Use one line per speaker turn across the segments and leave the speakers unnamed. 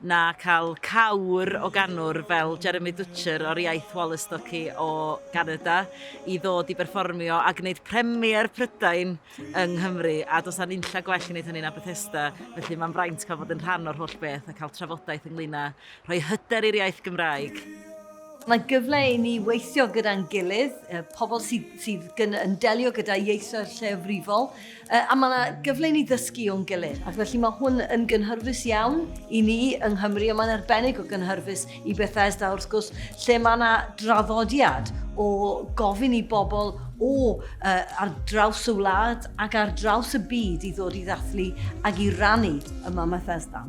na cael cawr o ganwr fel Jeremy Dutcher o'r iaith Wallystocki o Ganada i ddod i berfformio a gwneud premier Prydain yng Nghymru a does na nunlla gwell i wneud hynny na Bethesda felly mae'n fraint cael bod yn rhan o'r holl beth a cael trafodaeth ynglŷn â rhoi hyder i'r iaith Gymraeg. Mae gyfle i ni weithio gyda'n gilydd, y pobl sydd, sydd gyn, yn delio gyda ieithoedd lleafrifol, a mae yna gyfle i ni ddysgu o'n gilydd. Ac felly mae hwn yn gynhyrfus iawn i ni yng Nghymru, ond mae'n arbennig o gynhyrfus i Bethesda, wrth gwrs, lle mae yna draddodiad o gofyn i bobl o uh, ar draws y wlad ac ar draws y byd i ddod i ddathlu ac i rannu yma Bethesda.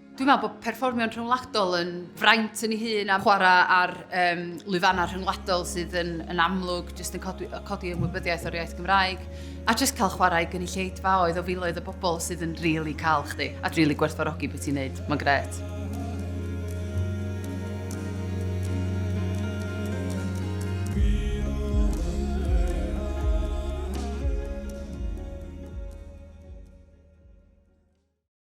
Dwi'n meddwl bod perfformio'n rhyngwladol yn fraint yn ei hun a chwarae ar um, lwyfannau rhyngwladol sydd yn, yn amlwg jyst yn codi, codi ymwybyddiaeth o'r iaith Gymraeg a jyst cael chwarae gynulleidfa oedd o filoedd o bobl sydd yn rili really cael chdi a rili really gwerthfarogi beth ti'n neud. Mae'n gret.